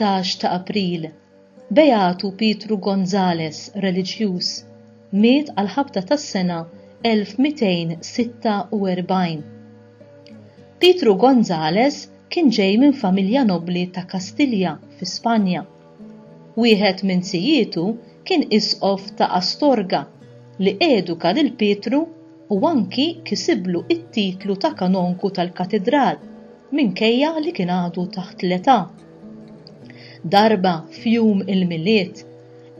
14 ta' April, Beatu Pietru Gonzales, reliġjuż, miet għal ħabta tas-sena 1246. Pietru Gonzales kien ġej minn familja nobbli ta' Kastilja fi Spanja Wieħed minn zijietu kien isqof ta' Astorga, li eduka lil Pietru u anki kisiblu t-titlu ta' kanonku tal-katidral minkejja li kien għadu taħt l-età. Darba f'jum il-Milied,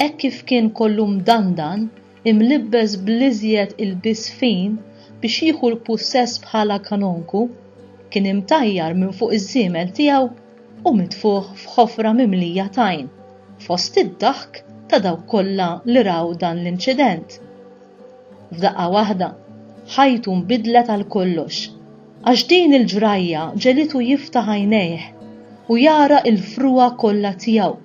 hekk kif kien kollu mdandan, imlibbes bl-iżjed ilbies fin biex jieħu l-pussess bħala kanonku, kien imtajjar minn fuq iż-żiemel tiegħu u mitfugħ f'ħofra mimlija tajn, fost id-daħk ta' dawk kollha li raw dan l-inċident. F'daqqa waħda, ħajtu nbidlet għal kollox. Għax din il-ġrajja ġegħlitu jiftaħ għajnejh u jara l-frugħa kollha tiegħu.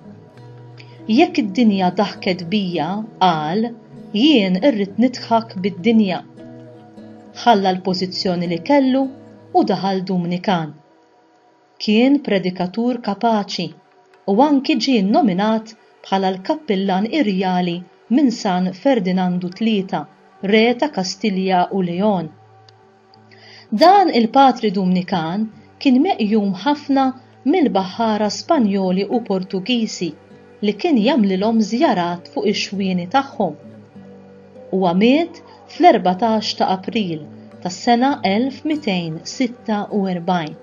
Jekk id-dinja daħket bija, qal, jien irrid nidħak bid-dinja. Ħalla l-pożizzjoni li kellu u daħal Dumnikan. Kien predikatur kapaċi u anki ġie nnominat bħala l-kappillan irjali minn San Ferdinandu Tlieta, Re ta' Kastilja u Leon. Dan il-patri Dumnikan kien meqjum ħafna mill-baħħara Spanjoli u Portugiżi li kien jagħmlilhom żjarat fuq ix-xwieni tagħhom. Huwa miet fl-erbatax ta' April tas-sena 1246.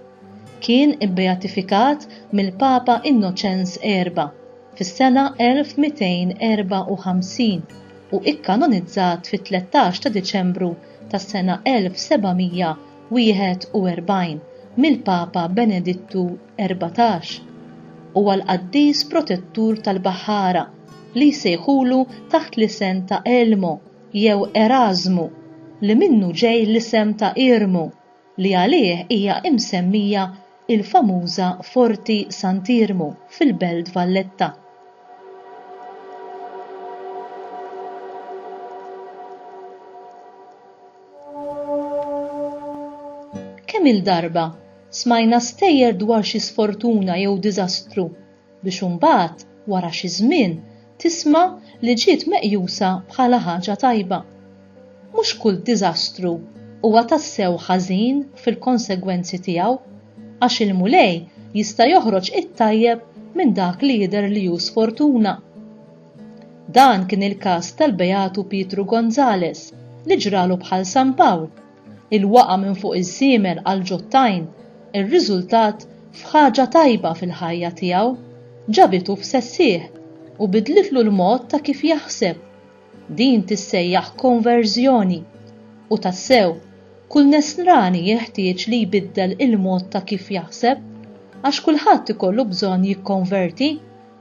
Kien ibbeatifikat mill-Papa Innoċenz Erba' fis-sena 1254 u ikkanonizzat fit-tlettax ta' Diċembru tas-sena 1741 mill-Papa Benedittu Erbatax. Huwa l-qaddis protettur tal-baħħara li jsejħulu taħt l-isem ta' Elmo jew Erażmu, li minnu ġej l-isem ta' Irmu. li għalih hija imsemmija il-famuża Forti Sant'Iermu fil-Belt Valletta. Kemm-il darba smajna stejjer dwar xi sfortuna jew diżastru biex imbagħad wara xi żmien tisma' li ġiet meqjusa bħala ħaġa tajba. Mhux kull diżastru huwa tassew ħażin fil-konsegwenzi tiegħu, għax il-Mulej jista' joħroġ it-tajjeb minn dak li jidher li hu sfortuna. Dan kien il-każ tal-Beatu Pietru Gonzalez li ġralu bħal San Pawl. Il-waqgħa minn fuq iż-żiemel għall-ġottajn irriżultat f'ħaġa tajba fil-ħajja tiegħu, ġabitu f'sessieħ u bidlitlu l-mod ta' kif jaħseb. Din tissejjaħ konverżjoni. U tassew, kull Nesrani jeħtieġ li jbiddel il-mod ta' kif jaħseb, għax kulħadd ikollu bżonn jikkonverti.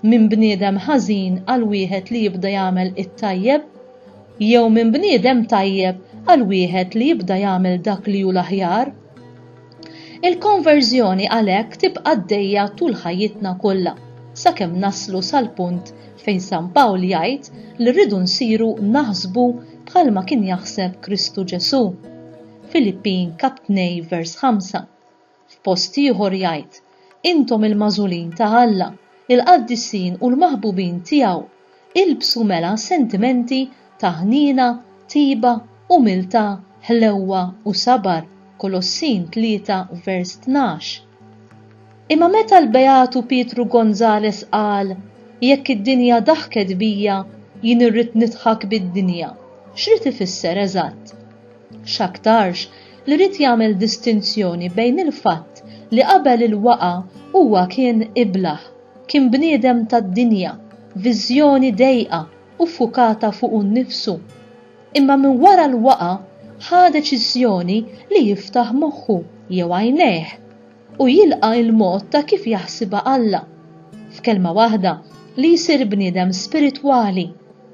minn bniedem ħażin għal wieħed li jibda jagħmel it-tajjeb, jew minn bniedem tajjeb għal wieħed li jibda jagħmel dak li hu l-aħjar? Il-konverżjoni għalhekk tibqa' għaddejja tul ħajjitna kollha, sakemm naslu sal-punt fejn San Pawl jgħid li rridu nsiru naħsbu bħalma kien jaħseb Kristu Ġesù. Filippin, kap. 2, vers. 5. F'post ieħor jgħid, Intom il-magħżulin ta' Alla, il-qaddisin u l-maħbubin tiegħu, ilbsu mela sentimenti ta' ħniena, tiba, umiltà, ħlewwa u sabar, Kolossin 3 vers 12. Imma meta l-Beatu Pietru Gonzalez qal, Jekk id-dinja daħket bija, jien irrid nidħak bid-dinja, x'ried ifisser eżatt? X'aktarx li ried jagħmel distinzjoni bejn il-fatt li qabel il-waqgħa huwa kien iblah, kien bniedem tad-dinja, viżjoni dejqa u ffukata fuqu nnifsu, imma minn wara l-waqgħa ħa deċiżjoni li jiftaħ moħħu jew għajnejh. u jilqa' l-mod ta' kif jaħsibha Alla, f'kelma waħda, li jsir bniedem spiritwali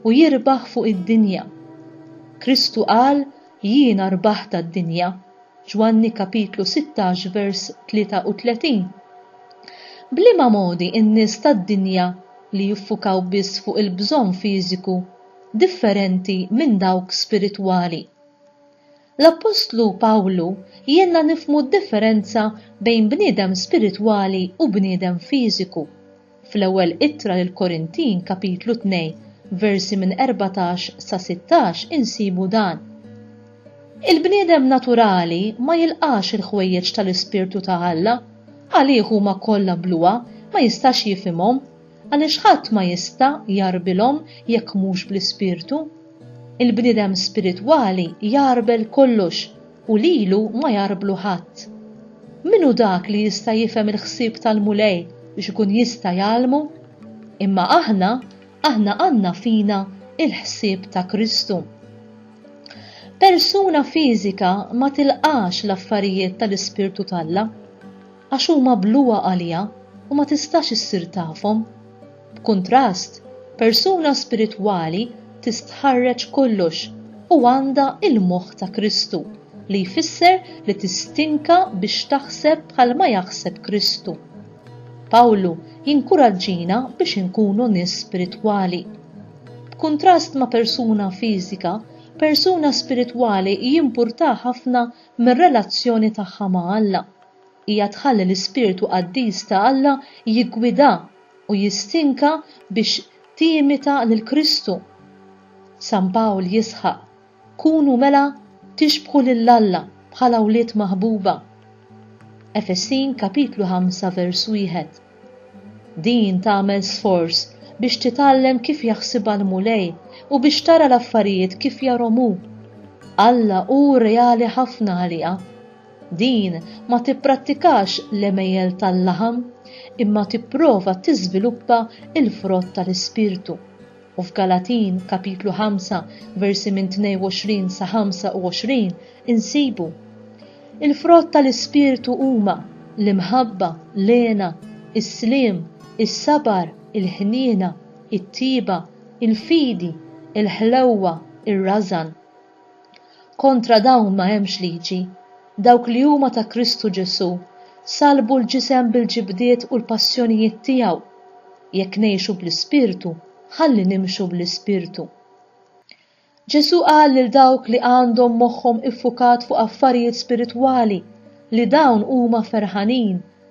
u jirbaħ fuq id-dinja. Kristu qal, Jiena rbaħt għad-dinja, Ġwanni kapitlu 16 vers 33. B'liema modi n-nies tad-dinja li jiffukaw biss fuq il-bżonn fiżiku differenti minn dawk spiritwali? L-appostlu Pawlu jgħinna nifhmu d-differenza bejn bniedem spiritwali u bniedem fiżiku. Fl-Ewwel Ittra lill-Korintin kapitlu tnejn, versi minn erbatax sa sittax insibu dan, Il-bniedem naturali ma jilqax il-ħwejjeġ ta' l-Ispirtu ta' Alla, għalih huma kollha bluha, ma jistax jifhimhom, għaliex ħadd ma jista' jgħarbilhom jekk mhux bl-Ispirtu. Il-bniedem spiritwali jgħarbel kollox u lilu ma jgħarblu ħadd. Min hu dak li jista' jifhem il-ħsieb tal-Mulej biex ikun jista' jgħallmu? Imma aħna, aħna għandna fina l-ħsieb ta' Kristu. Persuna fiżika ma tilqax l-affarijiet tal-Ispirtu t'Alla. għax huma bluha għaliha u ma tistax issir tafhom. B'kuntrast, persuna spiritwali tistħarreġ kollox u għandha l-moħħ ta' Kristu, li jfisser li tistinka biex taħseb bħalma jaħseb Kristu. Pawlu jinkuraġġina biex inkunu nies spiritwali. B'kuntrast ma' persuna fiżika, persuna spiritwali jimpurtah ħafna mir-relazzjoni tagħha ma' Alla. Hija tħalli l-ispirtu qaddis ta' Alla jiggwidha u jistinka biex timita lil Kristu. San Pawl jisħaq, Kunu mela tixbħu lil Alla bħala wlied maħbuba. Efesin kapitlu 5 vers 1. Din tagħmel sforz biex titgħallem kif jaħsibha l-Mulej u biex tara l-affarijiet kif jarhom hu. Alla hu reali ħafna għaliha. Din ma tipprattikax l-għemejjel tal-laħam, imma tipprova tiżviluppa l-frott tal-Ispirtu. U f'Galatin, kapitlu 5, versi minn 22 sa 25, insibu, Il-frott tal-Ispirtu huma, l-imħabba, l-hena, is-sliem, is-sabar, il-ħniena, it-tjieba, il-fidi, il-ħlewwa, ir-rażan. Kontra dawn ma hemmx liġi. Dawk li huma ta' Kristu Ġesù salbu l-ġisem bil-ġibdiet u l-passjonijiet tiegħu. Jekk ngħixu bl-Ispirtu, ħalli nimxu bl-Ispirtu. Ġesù qal lil dawk li għandhom moħħhom iffukat fuq affarijiet spiritwali li dawn huma ferħanin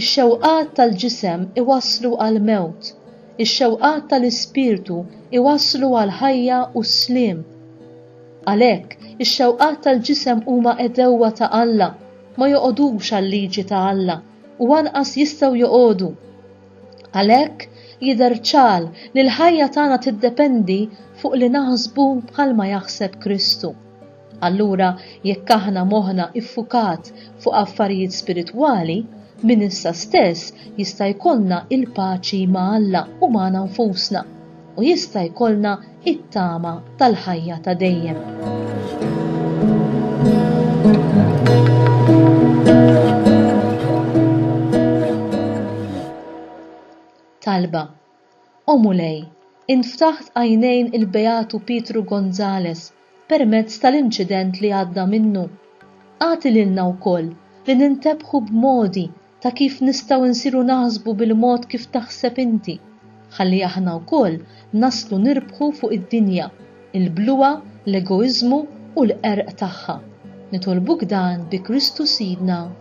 Ix-xewqat tal-ġisem iwasslu għall-mewt, ix-xewqat tal-ispirtu jwasslu għall-ħajja u s-sliem. Għalhekk, ix-xewqat tal-ġisem huma għedewwa ta' Alla, ma joqogħdux għal-liġi ta' Alla u anqas jistgħu joqogħdu. Għalhekk, jidher ċar li l-ħajja tagħna tiddependi fuq li naħsbu bħalma jaħseb Kristu. Allura, jekk aħna moħħna ffukat fuq affarijiet spiritwali, minn issa stess jista' jkollna l-paċi ma' Alla u magħna nfusna, u jista' jkollna t-tama tal-ħajja ta' dejjem. talba. O Mulej, int ftaħt għajnejn il-Beatu Pietru Gonzalez permezz tal-inċident li għadda minnu. Agħti lilna wkoll li nintebħu b'modi ta' kif nistgħu nsiru naħsbu bil-mod kif taħseb inti, ħalli aħna wkoll naslu nirbħu fuq id-dinja, il-bluha, l-egoiżmu u l-qerq tagħha. Nitolbuk dan bi Kristu Sidna.